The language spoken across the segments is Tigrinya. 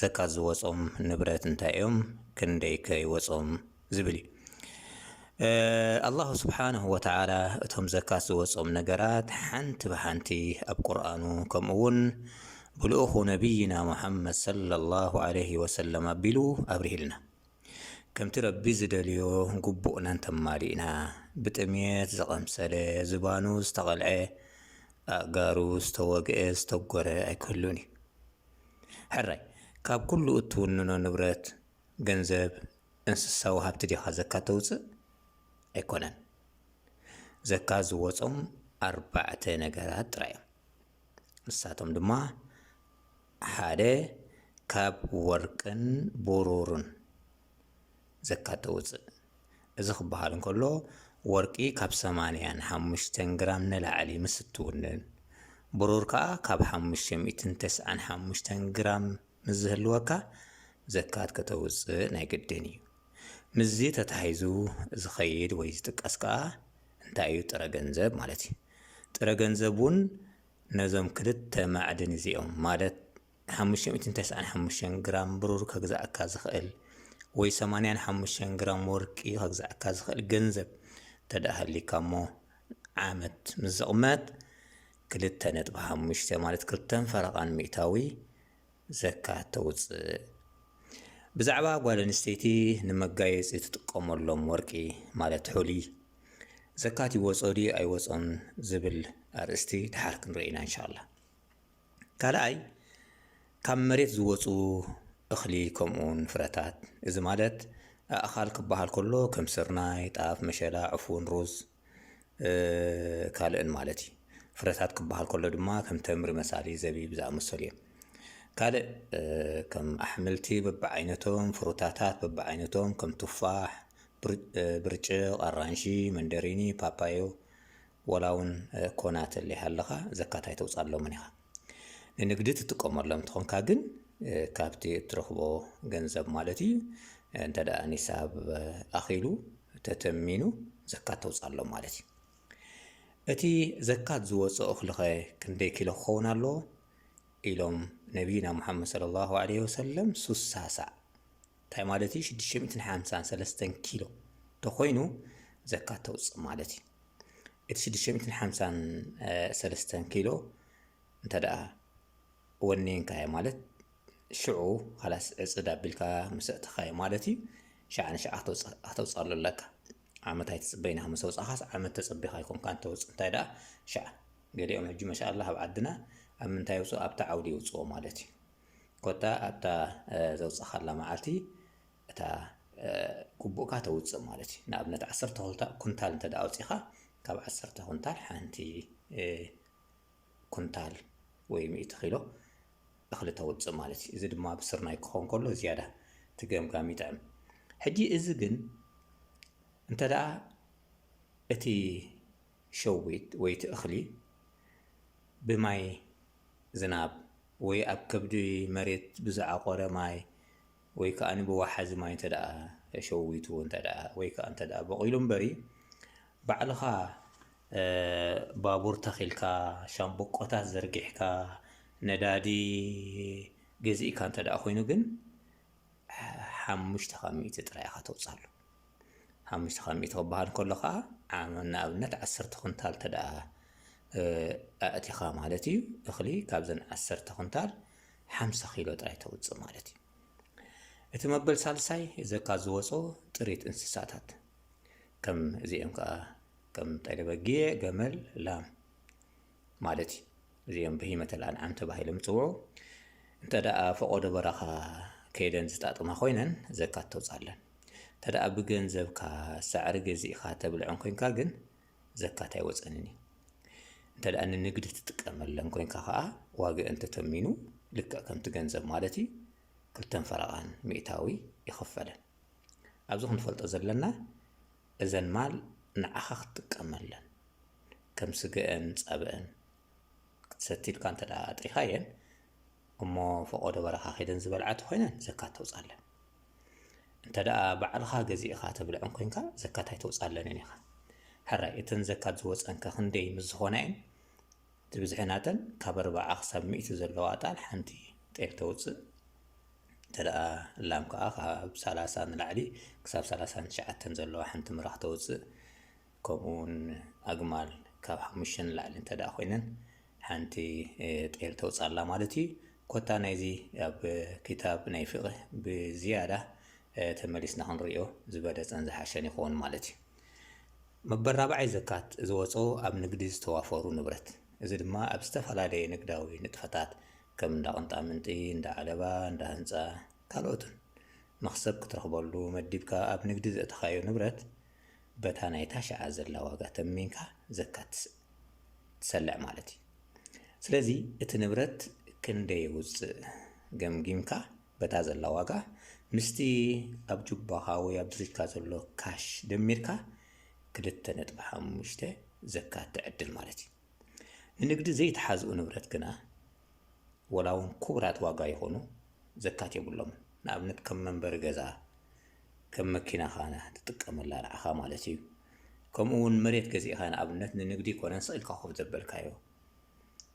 ዘካት ዝወጾም ንብረት እንታይ እዮም ክንደይከ ይወጾም ዝብል እዩ። ኣላሁ ስብሓነሁ ወተዓላ እቶም ዘካት ዝወጾም ነገራት ሓንቲ ብሓንቲ ኣብ ቁርኣኑ ከምኡ እውን ብልኡኹ ነቢይና ሙሓመድ ሰለላሁ ዓለይሂ ወሰለም ኣቢሉ ኣብሪህልና። ከምቲ ረቢ ዝደልዮ ግቡእና እንተማሊእና ብጥምየት ዝቐምሰለ ዝባኑ ዝተቐልዐ ኣእጋሩ ዝተወግአ ዝተጎረ ኣይክህሉን እዩ። ሕራይ፣ ካብ ኩሉ እትውንኖ ንብረት፣ ገንዘብ፣ እንስሳዊ ሃብቲ ዲኻ ዘካ ተውጽእ? ኣይኮነን። ዘካ ዝወጾም ኣርባዕተ ነገራት ጥራይ'ዮም። ንሳቶም ድማ፣ ሓደ ካብ ወርቅን ብሩርን። ዘካ ተውጽእ። እዚ ክበሃል እንከሎ ወርቂ ካብ ሰማንያን ሓሙሽተን ግራም ንላዕሊ ምስ እትውንን፣ ብሩር ከኣ ካብ ሓሙሽተ ሚእትን ተስዓን ሓሙሽተን ግራም ምስ ዝህልወካ ዘካት ከተውጽእ ናይ ግድን እዩ። ምስዚ ተተሓሒዙ ዝኸይድ ወይ ዝጥቀስ ከኣ እንታይ እዩ ጥረ ገንዘብ ማለት እዩ። ጥረ ገንዘብ እውን ነዞም ክልተ ማዕድን እዚኦም ማለት፣ ሓሙሽተ ሚእትን ተስዓን ሓሙሽተን ግራም ብሩር ከግዝኣካ ዝኽእል ወይ ሰማንያን ሓሙሽተን ግራም ወርቂ ከግዝኣካ ዝኽእል ገንዘብ እንተድኣ ሃልዩካ እሞ ዓመት ምስ ዝቕመጥ ክልተ ነጥቢ ሓሙሽተ ማለት ክልተን ፈረቓን ሚእታዊ ዘካ ተውፅእ። ብዛዕባ ጓል ኣንስተይቲ ንመጋየፂ ትጥቀመሎም ወርቂ ማለት ሑሊ ዘካት ይወፆ ድዩ ኣይወፆን ዝብል ኣርእስቲ ድሓር ክንርኢ ኢና እንሻላ። ካልኣይ ካብ መሬት ዝወጹ እኽሊ ከምኡውን ፍረታት እዚ ማለት ኣእኻል ክበሃል ከሎ ከም ስርናይ፣ ጣፍ፣ መሸላ፣ ዕፉን፣ ሩዝ፣ ካልእን ማለት እዩ። ፍረታት ክበሃል ከሎ ድማ ከም ተምሪ መሳሊ፣ ዘቢብ ዝኣመሰሉ እዮም። ካልእ ከም ኣሕምልቲ በብዓይነቶም፣ ፍሩታታት በብዓይነቶም ከም ቱፋሕ፣ ብርጭቕ፣ ኣራንሺ፣ መንደሪኒ፣ ፓፓዮ ወላ ውን ኮና ተለይ ሃለኻ ዘካት ኣይተውጻሎምን ኢኻ። ንንግዲ ትጥቀመሎም እንተኾንካ ግን ካብቲ እትረኽቦ ገንዘብ ማለት ኢዩ እንተ ኒሳብ ኣኺሉ ተተሚኑ ዘካት ተውጻሎም ማለት ኢዩ። እቲ ዘካት ዝወጾ እኽሊኸ ክንደይ ኪሎ ክኸውን ኣለዎ? ኢሎም ነብይና ሙሓመድ ሰለሏሁ ዓለይሂ ወሰለም ሱሳ ሳዕ እንታይ ማለት ኢዩ ሽዱሽተ ሚእትን ሓምሳን ሰለስተን ኪሎ ተኾይኑ ዘካት ተውጽእ ማለት ኢዩ። እቲ ሽዱሽተ ሚእትን ሓምሳን ሰለስተን ኪሎ እንተደኣ ወኒንካዮ ማለት ሽዑ ኻላስ ዕፅድ ኣቢልካ ምስ ኣእተኻዮ ማለት እዩ ሸዓ ንሸዓ ከተውፅኣሉ ኣለካ ዓመት ኣይትፅበይና ምስ ኣውፃኻስ ዓመት ተፀቢኻ ኣይኮንካን ተውፅእ እንታይ ደኣ ሸዓ ገሊኦም ሕጂ መሻላ ኣብ ዓድና ኣብ ምንታይ የውፅኡ ኣብታ ዓውዲ የውፅኦ ማለት እዩ ኮታ ኣብታ ዘውፅኻላ መዓልቲ እታ ግቡእካ ተውጽእ ማለት እዩ። ንኣብነት ዓሰርተ ኩንታ ኩንታል እንተ ደኣ ኣውጺእካ ካብ ዓሰርተ ኩንታል ሓንቲ ኩንታል ወይ ሚእቲ ኪሎ እኽሊ ተውጽእ ማለት እዩ። እዚ ድማ ብስርናይ ክኸውን ከሎ ዝያዳ እቲ ገምጋም ይጥዕም። ሕጂ እዚ ግን እንተ ደኣ እቲ ሸዊት ወይ እቲ እኽሊ ብማይ ዝናብ ወይ ኣብ ከብዲ መሬት ብዝዓቖረ ማይ ወይ ከኣ ብወሓዚ ማይ እንተደኣ ሸዊቱ እንተደኣ ወይ ከኣ እንተደኣ በቂሉ እምበሪ ባዕልኻ ባቡር ተኺልካ ሻምብቆታት ዘርጊሕካ ነዳዲ ገዚእካ እንተደኣ ኮይኑ ግን ሓሙሽተ ካብ ሚእቲ ጥራይ ኢኻ ተውጽኣሉ። ሓሙሽተ ካብ ሚእቲ ክበሃል ከሎ ከኣ ንኣብነት ዓሰርተ ኩንታል እንተ ደኣ ኣእቲኻ ማለት እዩ እኽሊ ካብዘን ዓሰርተ ኩንታል ሓምሳ ኪሎ ጥራይ ተውጽእ ማለት እዩ። እቲ መበል ሳልሳይ ዘካ ዝወጾ ጥሪት እንስሳታት ከም እዚኦም ከኣ ከም ጤለ በጊዕ፣ ገመል፣ ላም ማለት እዩ። እዚኦም ብሂመተ ልኣንዓም ተባሂሎም ይጽውዑ። እንተደኣ ፈቖዶ በረኻ ከይደን ዝጣጥማ ኮይነን ዘካት ተውጻለን። እንተደኣ ብገንዘብካ ሳዕሪ ገዚእኻ ተብልዐን ኮንካ ግን ዘካት ኣይወጸንን እዩ። እንተደኣ ንንግዲ ትጥቀመለን ኮንካ ከኣ ዋግአን ተተሚኑ ልክዕ ከምቲ ገንዘብ ማለት እዩ ክልተን ፈረቓን ሚእታዊ ይኽፈለን። ኣብዚ ክንፈልጦ ዘለና እዘን ማል ንዓኻ ክትጥቀመለን ከም ስገኣን ጸብኣን ክትሰቲ ኢልካ እንተ ኣጥሪኻየን እሞ ፈቖዶ በረኻ ከይደን ዝበልዓ ተኾይነን ዘካት ተውጻለን። እንተ ባዕልኻ ገዚእኻ ተብልዐን ኮንካ ዘካት ኣይተውጻለንን ኢኻ። ሕራይ እተን ዘካት ዝወጸንከ ክንደይ ምስ ዝኾናየን እቲ ብዝሒ ናተን ካብ ኣርባዓ ክሳብ ሚእቲ ዘለዎ ኣጣል ሓንቲ ጤል ተውጽእ እንተደኣ ላም ከኣ ካብ ሰላሳ ንላዕሊ ክሳብ ሰላሳን ትሽዓተን ዘለዋ ሓንቲ ምራኽ ተውጽእ ከምኡ ውን ኣግማል ካብ ሓሙሽተ ንላዕሊ እንተደኣ ኮይነን ሓንቲ ጤል ተውጻላ ማለት እዩ ኮታ ናይዚ ኣብ ክታብ ናይ ፍቕህ ብዝያዳ ተመሊስና ክንሪኦ ዝበለጸን ዝሓሸን ይኸውን ማለት እዩ መበል ራብዓይ ዘካት ዝወጽኦ ኣብ ንግዲ ዝተዋፈሩ ንብረት፣ እዚ ድማ ኣብ ዝተፈላለየ ንግዳዊ ንጥፈታት ከም እንዳ ቅንጣምንጢ፣ እንዳ ዓለባ፣ እንዳ ህንጻ ካልኦትን መኽሰብ ክትረኽበሉ መዲብካ ኣብ ንግዲ ዘእተኻዮ ንብረት በታ ናይታ ሽዓ ዘላ ዋጋ ተሚንካ ዘካት ትሰልዕ ማለት እዩ። ስለዚ እቲ ንብረት ክንደይ የውጽእ ገምጊምካ በታ ዘላ ዋጋ ምስቲ ኣብ ጁባኻ ወይ ኣብ ድሪትካ ዘሎ ካሽ ደሚርካ ክልተ ነጥቢ ሓሙሽተ ዘካት ትዕድል ማለት እዩ። ንንግዲ ዘይተሓዝኡ ንብረት ግና ወላውን ኩቡራት ዋጋ ይኹኑ ዘካት የብሎምን። ንኣብነት ከም መንበሪ ገዛ፣ ከም መኪናኻ ትጥቀመላ ንዓኻ ማለት እዩ። ከምኡ ውን መሬት ገዚእኻ ንኣብነት ንንግዲ ኣይኮነን ስቅ ኢልካ ኮፍ ዘበልካዮ።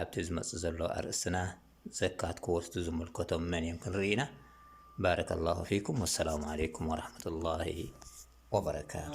ኣብቲ ዝመጽእ ዘሎ ኣርእስትና ዘካት ክወስዱ ዝምልከቶም መን እዮም ክንርኢ ኢና። ባረከላሁ ፊኩም ወሰላሙ ዓለይኩም ወራህመቱላሂ ወበረካቱ።